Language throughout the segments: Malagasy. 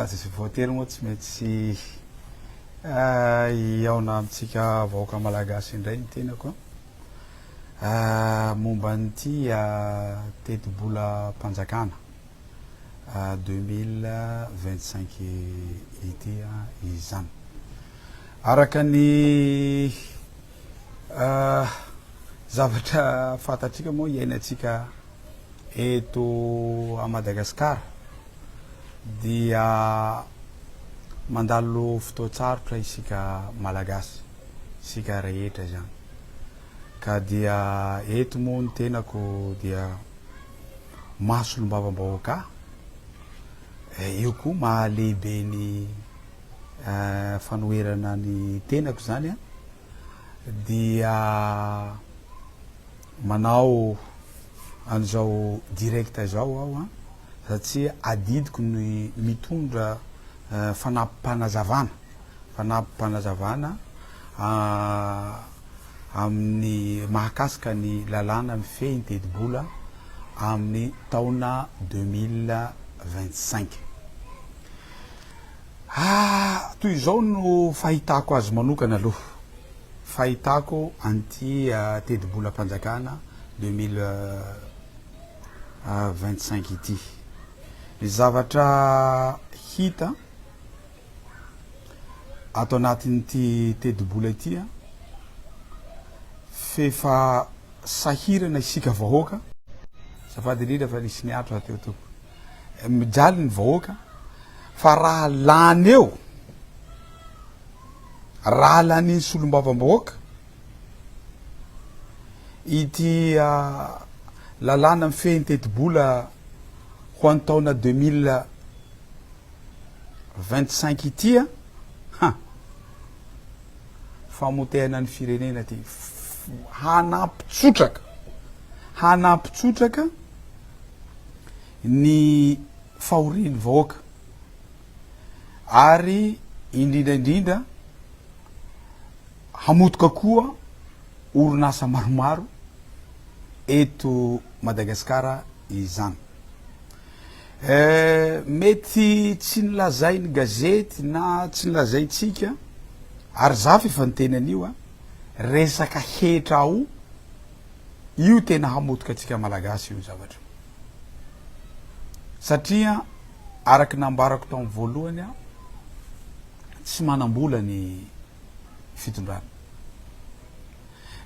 Tsy voatery moa tsy maintsy hihaona amintsika vahoaka malagasy indray ny tenako momba an'ity tetibolam-panjakana deux mille vingt cinq ity izany. Araka ny Zavatra fantatsika moa iainantsika eto à Madagascar dia mandalo fotoan-tsarotra isika Malagasy, isika rehetra izany. Ka dia eto moa ny tenako dia maha solombavambahoaka ahy, io koa maha lehibe ny. fanoherana ny tenako zany a dia manao an'izao direct izao aho a satria adidiko ny mitondra fanampim-panazavana fanampim-panazavana amin'ny mahakasika ny lalàna mifehy ny tetibola amin'ny taona deux mille vingt cinq. Ah! Toy izao no fahitako azy manokana aloha, fahitako an'ity tetibolam-panjakana deux mille vingt cinq ity. Ny zavatra hita ato anatin'ity tetibola ity, f'efa sahirana isika vahoaka, azafady indrindra fa nisy niato rahateo tompoko. Mijaly ny vahoaka fa raha lany eo, raha lanin'ny solombavambahoaka ity lalàna mifehy ny tetibola ho an'ny taona deux mille vingt cinq ity an, han! famotehana ny firenena ity, hanampitsotraka, hanampitsotraka. ny fahorian'ny vahoaka ary indrindra indrindra hamotoka koa orinasa maromaro eto Madagasikara izany. Eh, mety tsy nilazain'ny gazety na tsy nilazaintsika ary zafy efa niteny an'io a, resaka hetra ao Io tena hamotika antsika Malagasy io zavatra io. Satria araka ny nambarako tamin'ny voalohany aho, tsy manam-bola ny fitondrana.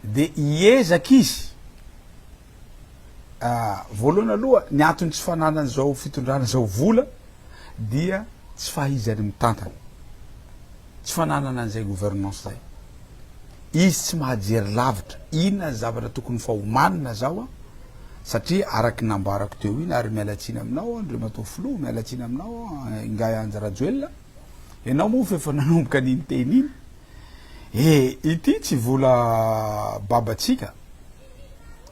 Dia hiezaka izy, voalohany aloha ny antony tsy fananan'izao fitondrana izao vola dia tsy fahaizany mitantana, tsy fananana an'izay gouvernance izay. Izy tsy mahajery lavitra inona ny zavatra tokony fa homanina zao an, satria araky ny nambarako teo iny ary miala tsiny aminao an, Andriamatoa Filoha, miala tsiny aminao an, Ingahy Andry Rajoelina, ianao moa fa efa nanomboka ny niteny iny. E, ity tsy vola babantsika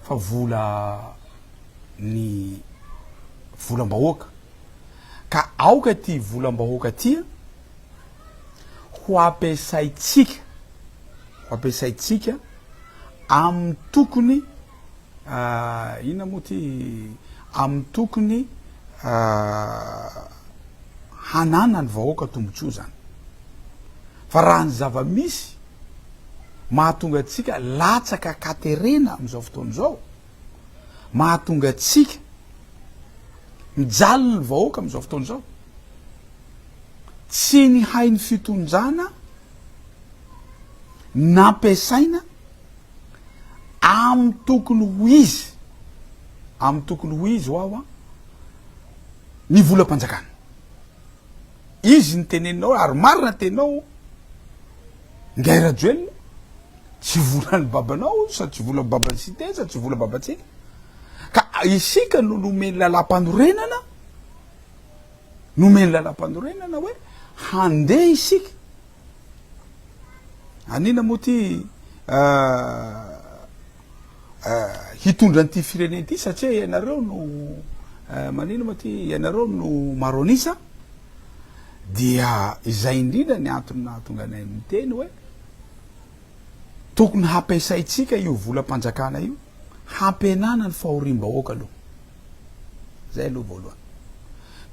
fa vola ny volam-bahoaka. ka aoka ity volam-bahoaka ity ho ampiasaintsika, ho ampiasaintsika amin'ny tokony inona moa ity, amin'ny tokony hananan'ny vahoaka tombontsoa izany. Fa raha ny zava-misy mahatonga antsika latsaka an-katerena amin'izao fotoana izao, mahatonga antsika mijaly ny vahoaka amin'izao fotoana izao. Tsy ny hain'ny fitondrana nampiasaina amin'ny tokony ho izy, amin'ny tokony ho izy ho aho ny volam-panjakana. Izy ny teneninao ary marina tenao ngahy Rajoelina tsy volan'ny babanao sa tsy volan'ny baban'ny site sa tsy volan'ny babantsika ka isika no nomeny lalam-panorenana nomeny lalam-panorenana hoe handeha isika anina moa ty euh, hitondra an'ity firenena ity satria ianareo no manino moa ty ianareo no maro an'isa dia izay indrindra ny antony nahatonga anay miteny hoe tokony hampiasaintsika io volam-panjakana io hampihenana ny fahoriam-bahoaka aloha zay aloha voalohany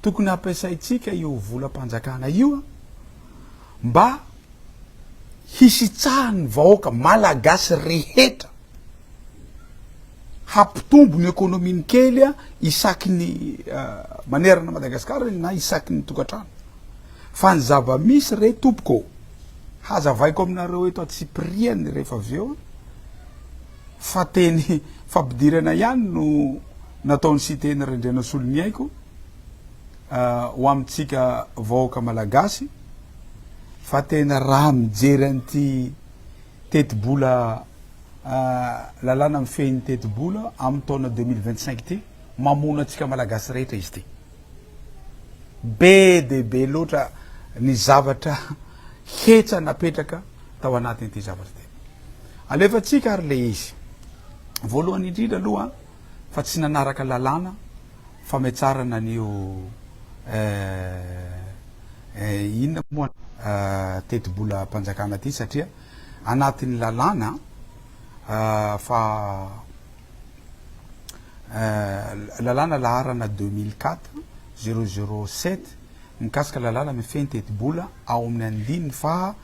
tokony hampiasaintsika io volam-panjakana io mba hisitsahan'ny vahoaka Malagasy rehetra, hampitombo ny ekonominy kely isaky ny manerana an'i Madagasikara na isaky ny tokantrano. Fa ny zava-misy re tompoko ô, hazavaiko aminareo eto antsipiriany rehefa avy eo fa teny fampidirana ihany no nataon'i Siteny Rendrianasoloniaiko ho amintsika vahoaka Malagasy, fa tena raha mijery an'ity tetibola lalàna mifehy ny tetibola amin'ny taona deux mille vingt cinq ity, mamono antsika Malagasy rehetra izy ity. Be dia be loatra ny zavatra hetra napetraka tao anatin'ity zavatra ity. Alefantsika ary ilay izy. Voalohany indrindra aloha fa tsy nanaraka lalàna fametrarana an'io eh inona moa eh tetibolam-panjakana ity satria anatin'ny lalàna fa eh lalàna laharana deux mille quatre zéro zéro sept Mikasika lalàna mifehy ny tetibola ao amin'ny andininy faha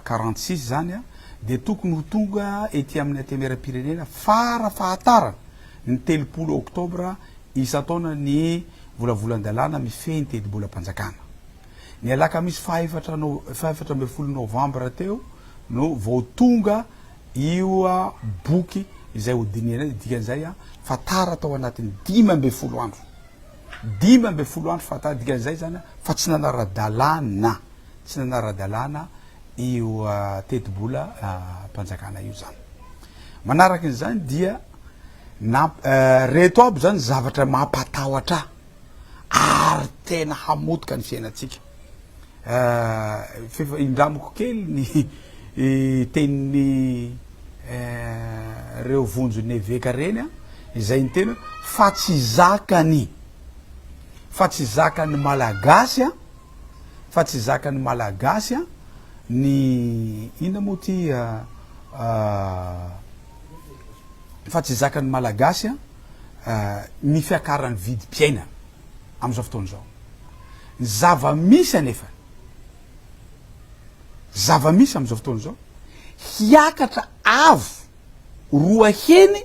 quarante six izany dia tokony ho tonga ety amin'ny Antenimierampirenena fara fahatarana ny telopolo oktobra isan-taona ny volavolan-dalàna mifehy ny tetibolam-panjakana. Ny alakamisy faha efatra faha efatra ambin'ny folo novambra teo no vao tonga io boky izay hodinihana io, dikan'izay fa tara tao anatin'ny dimy ambin'ny folo andro. dimy ambin'ny folo andro fahataha, dikan'izay izany fa tsy nanara-dalàna, tsy nanara-dalàna io teti-bolam-panjakana io izany. Manaraka an'izany dia reto aby izany zavatra mampatahotra ahy ary tena hamotika ny fiainantsika. Efa indramiko kely ny tenin'ny reo vonjy eveka reny a, izay ny tena fa tsy zakany, fa tsy zakan'ny malagasy a, fa tsy zakan'ny malagasy a, ny inona moa ty fa tsy zakan'ny malagasy a, ny fiakaran'ny vidim-piainana. amin'izao fotoana izao. Ny zava-misy anefa, zava-misy amin'izao fotoana izao, hiakatra avo roa heny,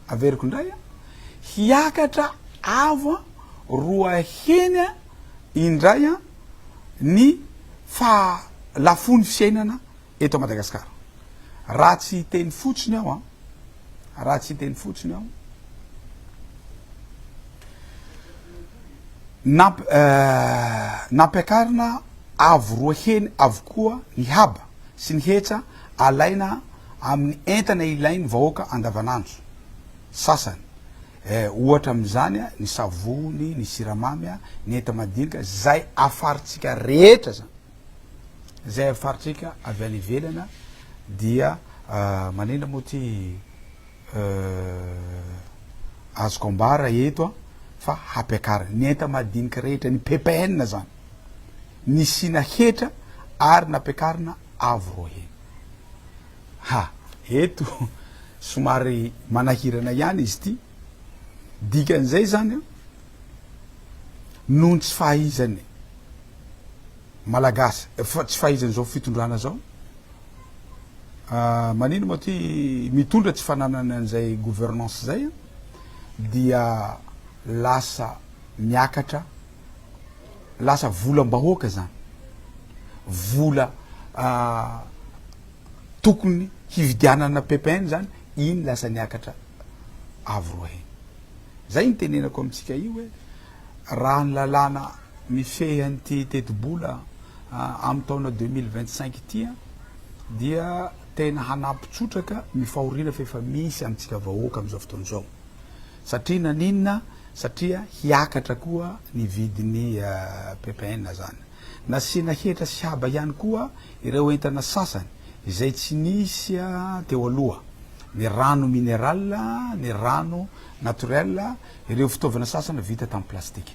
averiko indray an, hiakatra avo an, roa heny an, indray an, ny fa lafony fiainana Eto Madagascar. Raha tsy hiteny fotsiny aho an. Raha tsy hiteny fotsiny aho. Namp nampiakarina avo roa heny avokoa ny haba sy ny hetra alaina amin'ny entana ilain'ny vahoaka andavanandro. Sasany. Eh ohatra amin'izany an, ny savony, ny siramamy an, ny enta-madinika, zay afarintsika rehetra zany. Izay avy faritrika avy any ivelana dia manina moa ty azoko ambara eto an fa hampiakarina ny enta madinika rehetra ny ppn zany nisiana hetra ary nampiakarina avo roa heny ha eto somary manahirana ihany izy ty dikan'izay zany an noho ny tsy fahaizany Malagasy fa tsy fahaizan'izao fitondrana zao ah, manino moa ty mitondra tsy fananany an'izay gouvernance zay an, dia lasa miakatra lasa volam-bahoaka zany vola ah, tokony hividianana ppn zany iny lasa niakatra avo roa heny zay ny tenenako amintsika io hoe Raha ny lalàna mifehy an'ity tetibola amin'ny taona deux mille vingt cinq ity dia tena hanampy trotraka ny fahoriana fa efa misy amintsika vahoaka amin'izao fotoana izao. Satria naninona? Satria hiakatra koa ny vidin'ny ppn zany. Nasiana hetra sy haba ihany koa ireo entana sasany izay tsy nisy teo aloha, ny rano mineral, ny rano naturel Ireo fitaovana sasany vita tamin'ny plastika.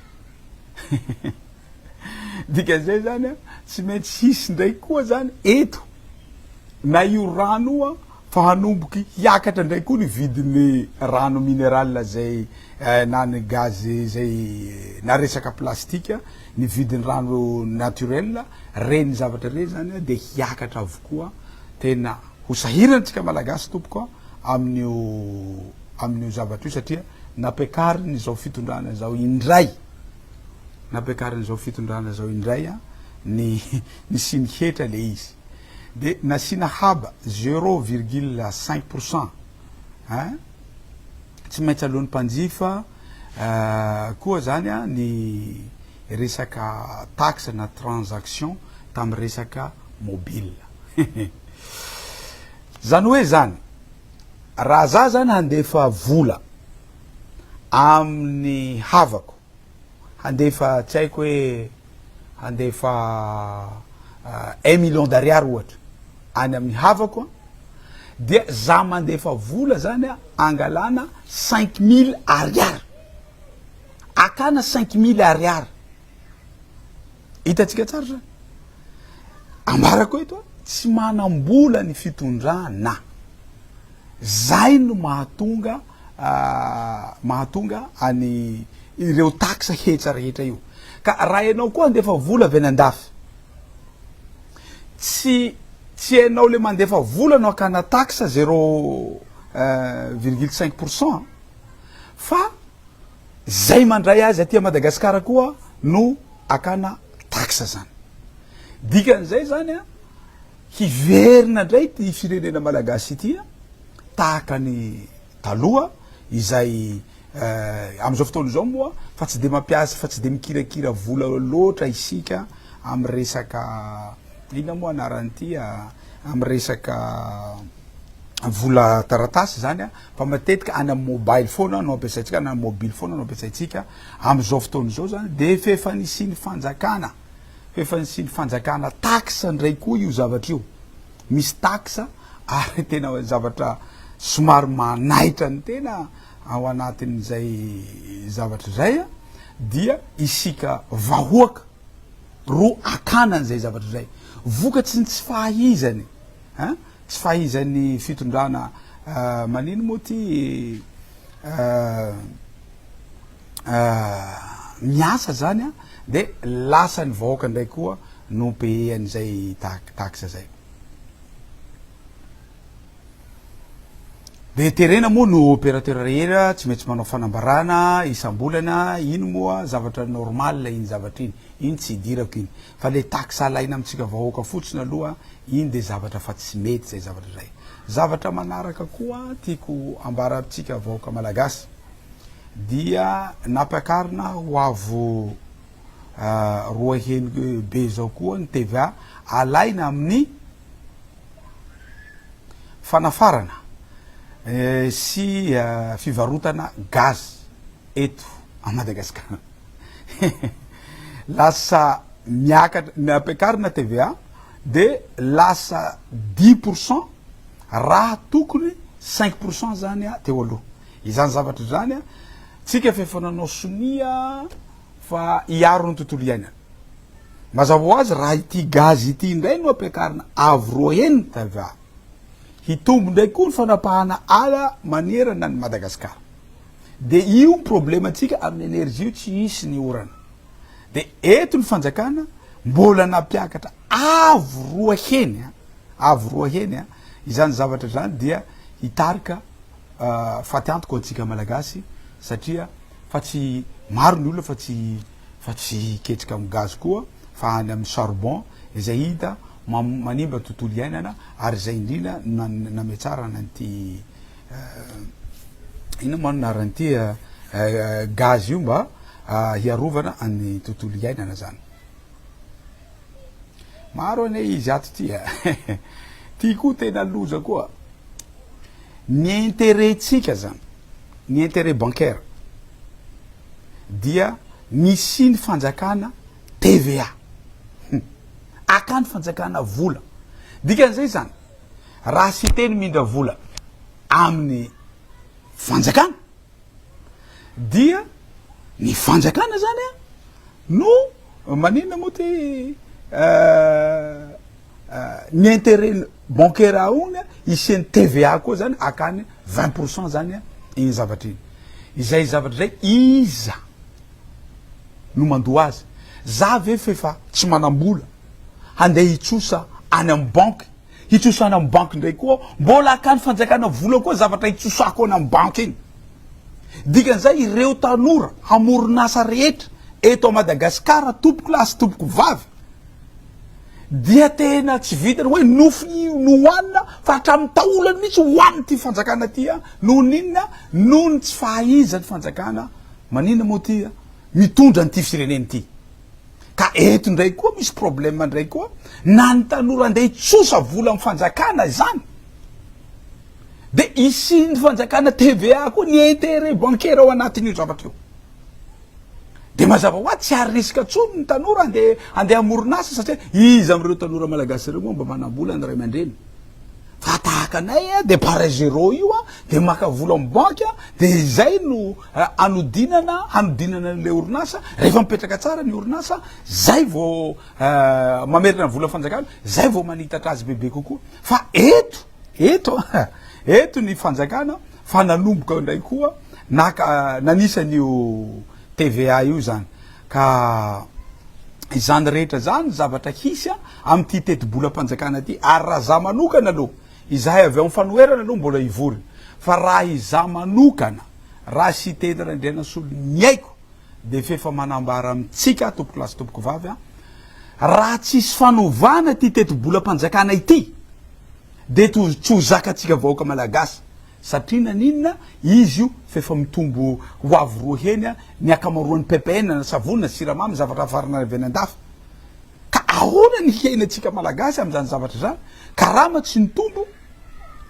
Dikan'izay izany an, tsy maintsy hisy indray koa izany eto na io rano io an, fa hanomboky hiakatra indray koa ny vidin'ny rano mineral izay na ny gaz izay na resaka plastika, ny vidin'ny rano naturel, ireny zavatra ireny izany an dia hiakatra avokoa. Tena ho sahirana antsika Malagasy tompoko an, amin'io. amin'io zavatra io satria nampiakariny izao fitondrana izao indray nampiakariny izao fitondrana izao indray a ny ny siny hetra le izy de nasiana haba zero virgule cinq pour cent a tsy maintsy alohan'ny mpanjifa koa zany a ny resaka taxe na transaction tamin'ny resaka mobile zany hoe zany Raha za zany handefa vola amin'ny havako, handefa tsy haiko hoe handefa un million d'ariary ohatra any amin'ny havako an, dia za mandefa vola zany an angalana cinq mille ariary, akana cinq mille ariary, Hitantsika tsara zany. Ambarako eto a, tsy manam-bola ny fitondrana. Zay no mahatonga ah, mahatonga any ireo taxe hetsa rehetra io. Ka raha ianao koa andefa vola avy any andafy, tsy tsy ianao le mandefa vola no hakana taxe zero eh, virgule cinq pour cent fa Zay mandray azy aty Madagascar koa no akana taxe zany. Dikan'izay zany a, hiverina ndray ity firenena Malagasy ity tahaka ny taloha izay amzao fotoana zao moa fa tsy de mampiasa fa tsy de mikirakira vola loatra isika am resaka inona moa anarany ity a, am resaka vola taratasy zany a. Fa matetika any amin'ny mobile foana no ampiasaintsika na ny mobily foana no ampiasaintsika amin'izao fotoana izao zany dia f'efa nisian'ny fanjakana f'efa nisian'ny fanjakana taxe ndray koa io zavatra io misy taxe ary tena zavatra somary manaitra ny tena ao anatin'izay zavatra izay a dia isika vahoaka ro akana an'izay zavatra izay vokatry ny tsy fahaizany a. Tsy fahaizan'ny fitondrana manino moa ty miasa zany a de lasa ny vahoaka ndray koa no payer an'izay taxe zay. De terena moa no operateur rehetra tsy maintsy manao fanambarana isam-bolana iny moa zavatra normal iny zavatra iny, iny tsy idirako iny. Fa le taxe alaina amintsika vahoaka fotsiny aloha iny de zavatra fa tsy mety zay zavatra zay. Zavatra manaraka koa tiako ambara amintsika vahoaka malagasy dia nampiakarina ho avo roa heny be zao koa ny TVA alaina amin'ny fanafarana sy fivarotana gaz eto a Madagascar. lasa miakatra ny ampiakarina TVA de lasa dix pour cent raha tokony cinq pour cent zany a teo aloha izany zavatra izany a tsika fa efa nanao sonia fa hiaro ny tontolo iainana mazava ho azy raha ity gazy ity indray no ampiakarina avo roa heny TVA hitombo indray koa ny fanapahana ala manerana ny Madagasikara De io ny problème antsika amin'ny energie io tsy hisy ny orana. De eto ny fanjakana mbola nampiakatra avo roa heny a, avo roa heny a, izany zavatra izany dia hitarika faty antoka ho antsika malagasy satria fa tsy maro ny olona fa tsy fa tsy hiketrika amin'ny gaz koa fa any amin'ny charbon izay hita manimba ny tontolo iainana ary izay indrindra no nametrarana an'ity inona moa no anaran'ity gaz io mba hiarovana an'ny tontolo iainana zany. Maro anie izy ato ty a. Ty koa tena loza koa. Ny intérêt-tsika zany, ny intérêt bancaire dia nisian'ny fanjakana TVA. Akany fanjakana vola. Dikan'izay zany, Raha Siteny mindra vola amin'ny fanjakana dia ny fanjakana zany a no maninona moa ty ny interet bancaire aogna hisian'ny TVA koa zany akany vingt pour cent zany a iny zavatra iny izay zavatra zay iza no mandoa azy za ve f'efa tsy manam-bola handeha hitsosa any amin'ny banky, hitsosa any amin'ny banky indray koa aho, mbola hakan'ny fanjakana vola koa zavatra hitsosako any amin'ny banky iny. Dikan'izay ireo tanora hamoron'asa rehetra eto Madagasikara, tompoko lahy sy tompoko vavy, dia tena tsy vitan'ny hoe nofy no hohanina fa hatramin'ny taolany mihitsy hohanin'ity fanjakana ity an! Noho ny inona? Noho ny tsy fahaizan'ny fanjakana maninona moa ity mitondra an'ity firenena ity. Ka eto ndray koa misy problème ndray koa na ny tanora andeha hitsosa vola amin'ny fanjakana izany de isian'ny fanjakana TVA koa ny intérêt bancaire ao anatin'io zavatra io. Dia mazava ho azy tsy ary risque intsony ny tanora andeha andeha hamoron'asa satria iza amin'ireo tanora malagasy ireo moa mba manam-bola ny ray aman-dreny. Fa tahaka anay dia pareil zéro io dia maka vola amin'ny banque dia izay no Hanodinana, hanodinana an'ilay orinasa, rehefa mipetraka tsara ny orinasa, zay vao mamerina ny vola fanjakana, zay vao manitatra azy bebe kokoa. Fa eto, eto an, eto ny fanjakana fa nanomboka indray koa naka, nanisa an'io TVA io izany. Ka izany rehetra izany zavatra hisy amin'ity tetibolam-panjakana ity. Ary raha za manokana aloha, Izahay avy ao amin'ny fanoherana aloha mbola hivory fa raha izaho manokana, raha Siteny Randrianasolo ny aiko dia f'efa manambara amintsika tompokolahy sy tompokovavy an, raha tsy hisy fanovana ity tetibolam-panjakana ity dia tsy ho zakantsika vahoaka Malagasy satria naninona izy io f'efa mitombo ho avo roa heny ny ankamaroan'ny ppn na savony na siramamy zavatra afarana avy any an-dafy. Ka ahoana ny hiainantsika Malagasy amin'izany zavatra izany? Karama tsy nitombo,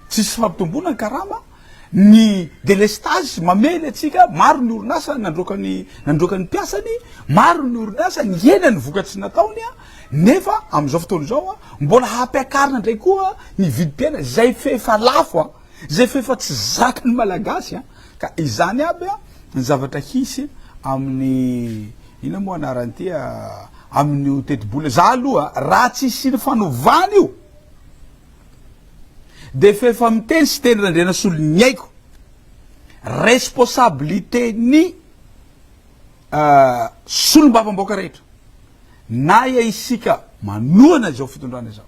tsisy fampitomboana ny karama, ny delestazy mamely antsika, maro ny orinasa nandroaka ny nandroaka ny mpiasany, maro ny orinasa nihena ny vokatry ny nataony nefa amin'izao fotoana izao mbola hampiakarina indray koa ny vidim-piainana izay f'efa lafo, izay f'efa tsy zakan'ny Malagasy ka izany aby ny zavatra hisy amin'ny Inona moa anaran'ity amin'io tetibola, za aloha raha tsy hisian'ny fanovana io dia f'efa miteny Siteny Randrianasolo ny aiko, responsabilité-ny solombavambahoaka rehetra, na ia isika manohana izao fitondrana izao,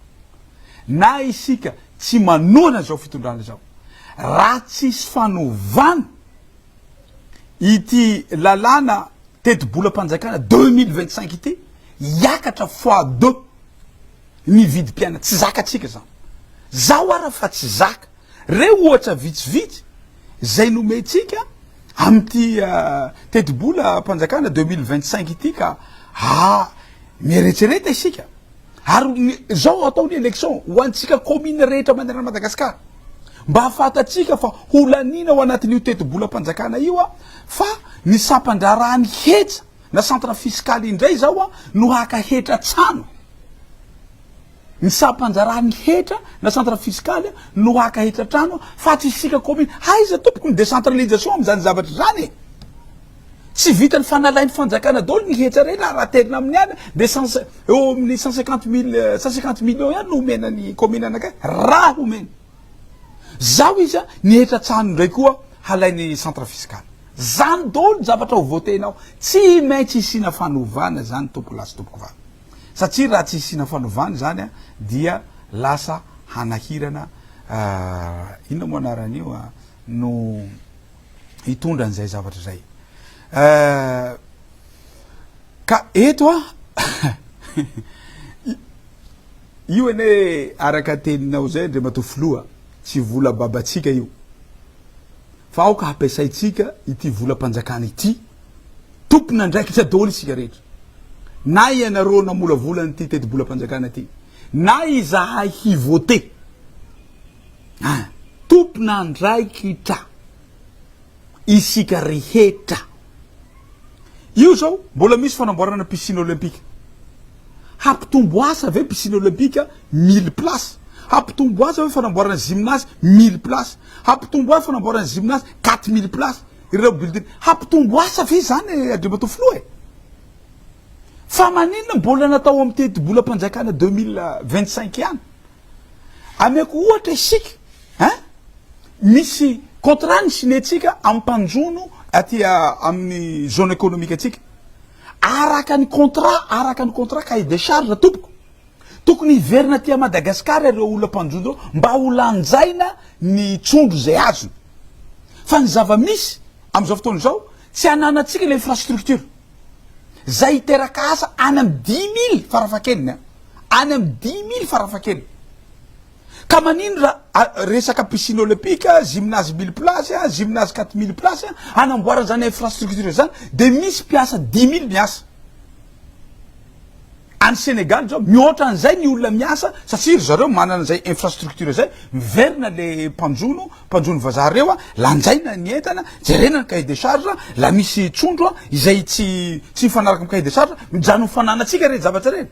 na isika tsy manohana izao fitondrana izao, raha tsisy fanovana, ity lalàna tetibolam-panjakana deux mille vingt cinq ity hiakatra fois deux ny vidim-piainana. Tsy zakatsika izany. Zaho ara fa tsy zaka. Reo ohatra vitsivitsy izay nomentsika amin'ity tetibolam-panjakana deux mille vingt cinq ity ka miheretsereta isika. Ary ny zao hatao ny election ho antsika commune rehetra manerana Madagascar mba hahafantatsika fa ho laniana ao anatin'io tetibolam-panjakana io fa ny sampan-draharahan'ny hetra na centre fiscal indray zao no haka hetra an-tsano ny sampan-draharahan'ny hetra na centre fiscal no haka hetra an-trano fa tsy isika commune aiza tompoko ny décentralisation amin'izany zavatra izany e Tsy vitan'ny fanalain'ny fanjakana daholo ny hetra ireny ary raha terina amin'ny ala dia cent cin- eo amin'ny cent cinquante mille cent cinquante millions ihany no omena ny commune anankiray raha omena. Zao izy an, ny hetra tsahany indray koa halain'ny centre fiscal. Zany daholo ny zavatra ho voter-nao. Tsy maintsy hisiana fanovana izany tompoko lahy sy tompoko vavy. Satria raha tsy hisiana fanovana izany an dia lasa hanahirana inona moa anarany io an no hitondra an'izay zavatra izay ka eto a io ene araka teninao zay ndre mato filoha tsy vola babatsika io fa aoka hampiasaintsika ity volam-panjakana ity tompona andraikitra daholo isika rehetra na ianareo namolavola an'ity teti-bolam-panjakana ity na izahay hivote Ah! Tompon'andraikitra isika rehetra. Io zao mbola misy fanamboarana piscine olympique. Hampitombo asa ve piscine olympique mille places? Hampitombo asa ve fanamboarana gymnase mille places? Hampitombo asa fanamboarana gymnase quatre mille places? Ireo building. Hampitombo asa ve izany Andriamatoa Filoha e? Fa maninona mbola natao amin'ny tetibolam-panjakana deux mille vingt cinq ihany? Ameko ohatra isika eh! Misy contrat nisigner-tsika amin'ny mpanjono aty amin'ny zone économique-ntsika. Araka ny contrat, araka ny contrat, cahier de charge tompoko. Tokony hiverina aty Madagascar ireo olona mpanjono ireo mba ho lanjaina ny trondro izay azony. Fa ny zava-misy amin'izao fotoana izao, tsy ananantsika ilay infrastructure. Zay hiteraka asa any amin'ny dimy mily farafahakeliny an! Any amin'ny dimy mily farafahakeliny. Ka manino ra a resaka piscine olympique, gymnase mille place an, gymnase quatre mille place an, hanamboarana izany infrastructure izany dia misy mpiasa dimy mily miasa. Any Senegal izao mihoatra an'izay ny olona miasa satria ry zareo manana izay infrastructure izay, miverina le mpanjono, mpanjono vazaha reo a, lanjaina ny entana, jerena ny cahier de charge, la misy trondro a, izay tsy tsy mifanaraka amin'ny cahier de charge, mijanon'ny fananantsika reny zavatra reny.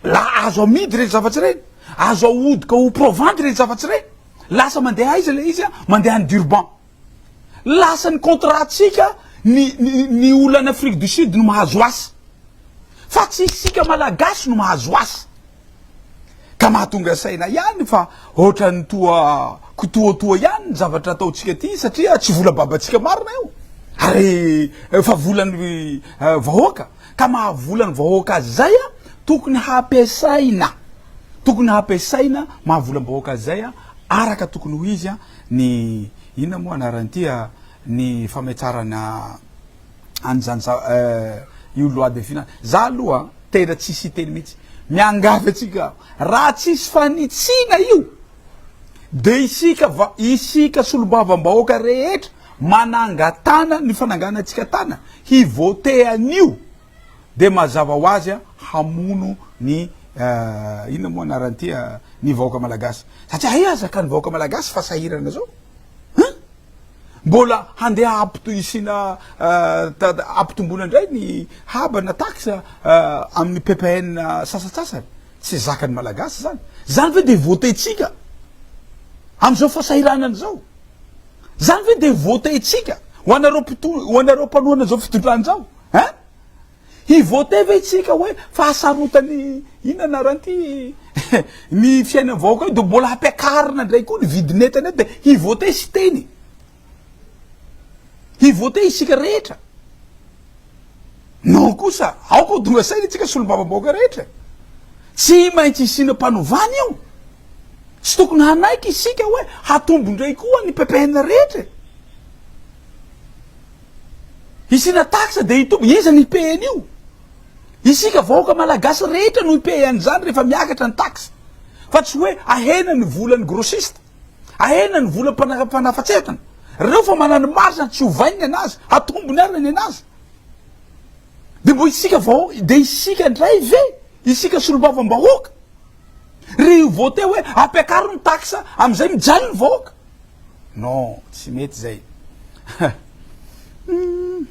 La azo amidy reny zavatra reny, azo ahodoka ho provandy reny zavatra reny, lasa mandeha aiza le izy a, mandeha any Durban. Lasa ny contrat ntsika ny ny olo any Afrique du Sud no mahazo asa fa tsy isika malagasy no mahazo asa ka mahatonga saina ihany fa ohatrany toa kitoatoa ihany ny zavatra ataontsika ty satria tsy vola babantsika marina io ary fa volan'ny vahoaka ka mahavola ny vahoaka azy zay a tokony hampiasaina tokony hampiasaina mahavolam-bahoaka azy zay a Araka tokony ho izy ny, inona moa anaran'ity, ny fametrarana an'izany za, io loi de finance, za aloha tena tsisy hiteny mihitsy, miangavy antsika aho, raha tsisy fanitsiana io dia isika va, isika solombavambahoaka rehetra manangatana ny fananganantsika tana hi-voter an'io, dia mazava ho azy hamono ny inona moa anarany ity ny vahoaka malagasy satria hay aza ka ny vahoaka malagasy fa sahirana zao hein mbola handeha hampito isina hampitomboana indray ny haba na taxe amin'ny ppn sasatsasany tsy zakany malagasy zany zany ve dia voatentsika amin'izao fasahiranana izao zany ve dia voatentsika ho anareo mpito ho anareo mpanohana izao fitondrana izao Hein? Hi voter ve tsika hoe fa hasarotany inona anarany ty ny fiainan'ny vahoaka io de mbola hampiakarina ndray koa ny vidin'entana de hi voter Siteny. Hi voter isika rehetra. Non kosa aoka ho tonga saina tsika solombavambahoaka rehetra. Tsy maintsy hisiana mpanovana io. Tsy tokony hanaiky isika hoe hatombo ndray koa ny ppn rehetra e. Hisiana taxe dia hitombo, iza no hipaye an'io? Isika vahoaka malagasy rehetra no hipaye an'izany rehefa miakatra ny taxe, fa tsy hoe ahena ny volan'ny grossiste, ahena ny vola mpanafatsefana, reo fa manana marge tsy ovaigny anazy, hatombony ary ny anazy. Dia mbo isika vahoaka, dia isika ndray ve, isika solombavambahoaka, ry vote hoe ampiakaro ny taxe, amin'izay mijaly ny vahoaka? Non, tsy mety zay. Humm.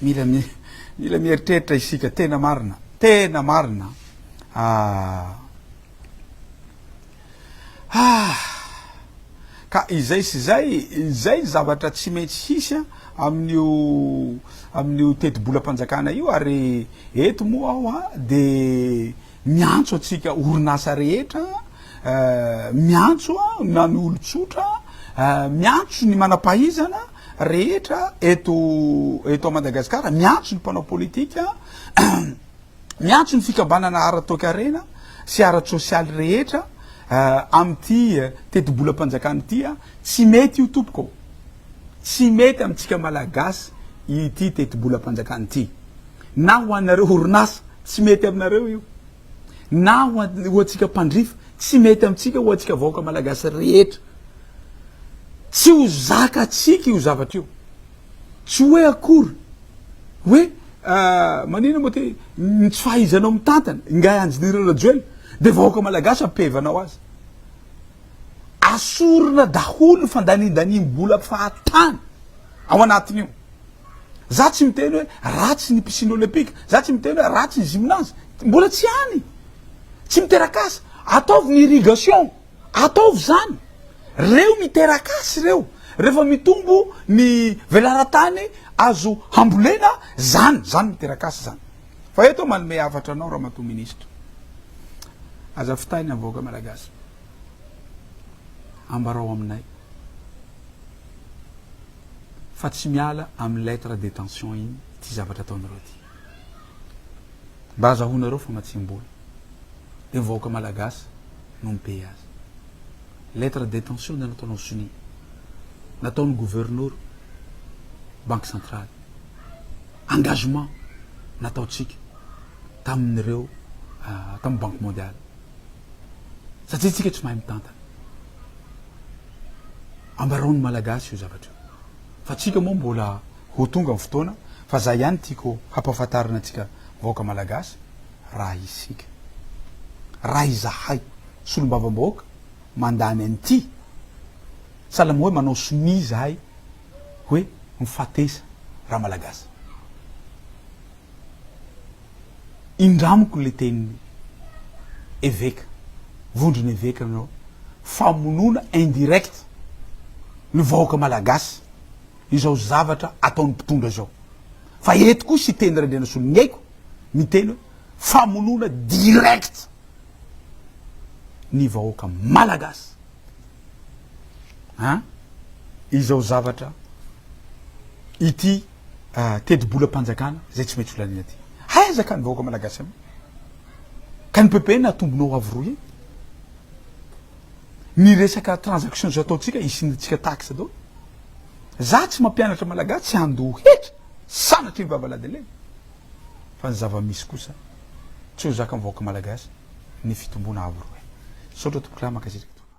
Mila mila mieritreritra isika, tena marina, tena marina ah. Ah. Ka izay sy izay, izay zavatra tsy maintsy hisy amin'io amin'io tetibolam-panjakana io ary eto moa aho dia Miantso antsika orinasa rehetra, miantso na ny olon-tsotra, miantso ny manam-pahaizana rehetra eto eto Madagasikara, miantso ny mpanao politika, miantso ny fikambanana ara-toekarena sy ara-tsosialy rehetra amin'ity tetibolam-panjakana ity, tsy mety io tompoko. Tsy mety amintsika Malagasy ity tetibolam-panjakana ity. Na ho anareo orinasa, tsy mety aminareo io. Na ho antsika mpandrifa, tsy mety amintsika, ho antsika vahoaka Malagasy rehetra. Tsy ho zakatsika io zavatra io. Tsy hoe akory hoe maninona moa ty ny tsy fahaizanao mitantana, ingahy Andry Nirina Rajoelina dia vahoaka Malagasy ampihevanao azy. Asorina daholo ny fandaniandaniam-bola fahatany ao anatin'io. Za tsy miteny hoe ratsy ny piscine olympique, za tsy miteny hoe ratsy ny gymnase, mbola tsy any, tsy miteraka asa. Ataovy ny irrigation, ataovy zany. Reo miteraka asa reo, refa mitombo ny velaran-tany azo hambolena, zany, zany miteraka asa zany. Fa eto manome hafatra anao Ramatoa Ministra, aza fitahy ny havaoaka Malagasy. ambarao aminay fa tsy miala amin'ny lettre detention iny ity zavatra ataonareo ity. Mba azahoanareo famatsiam-bola. Dia ny vahoaka malagasy no mi-payer azy. Lettre detention dia nataonao sonia. Nataon'ny gouverneur banque centrale. Engagement nataontsika tamin'ireo tamin'ny banque mondiale. satria tsika tsy mahay mitantana. Ambarao ny Malagasy io zavatra io. Fa tsika moa mbola ho tonga ny fotoana fa za ihany tiako hampahafantarina antsika vahoaka Malagasy raha isika. Raha izahay solombavambahoaka mandany an'ity salama hoe manao sonia izahay hoe mifatesa ra Malagasy. indramiko le tenin'ny eveka, vondron' eveka anao, famonoana indirect ny vahoaka malagasy izao zavatra ataon'ny mpitondra izao, fa eto koa Siteny Randrianasoloniaiko miteny hoe famonoana direct ny vahoaka malagasy an izao zavatra ity. ah, tetibolam-panjakana izay tsy maintsy holaniana aty. Aiza ka ny vahoaka malagasy amin'io? Ka ny PPN atombonao avo roa eny. Ny resaka transaction izao ataontsika, isiantsika taxe daholo. Za tsy mampianatra malagasy tsy handoa hetra, sanatria ny vava ladelena. Fa ny zava-misy kosa, tsy ho zakan'ny vahoaka malagasy ny fitomboana avo roa eny. Misaotra tompokolahy, mankasitraka tompoko.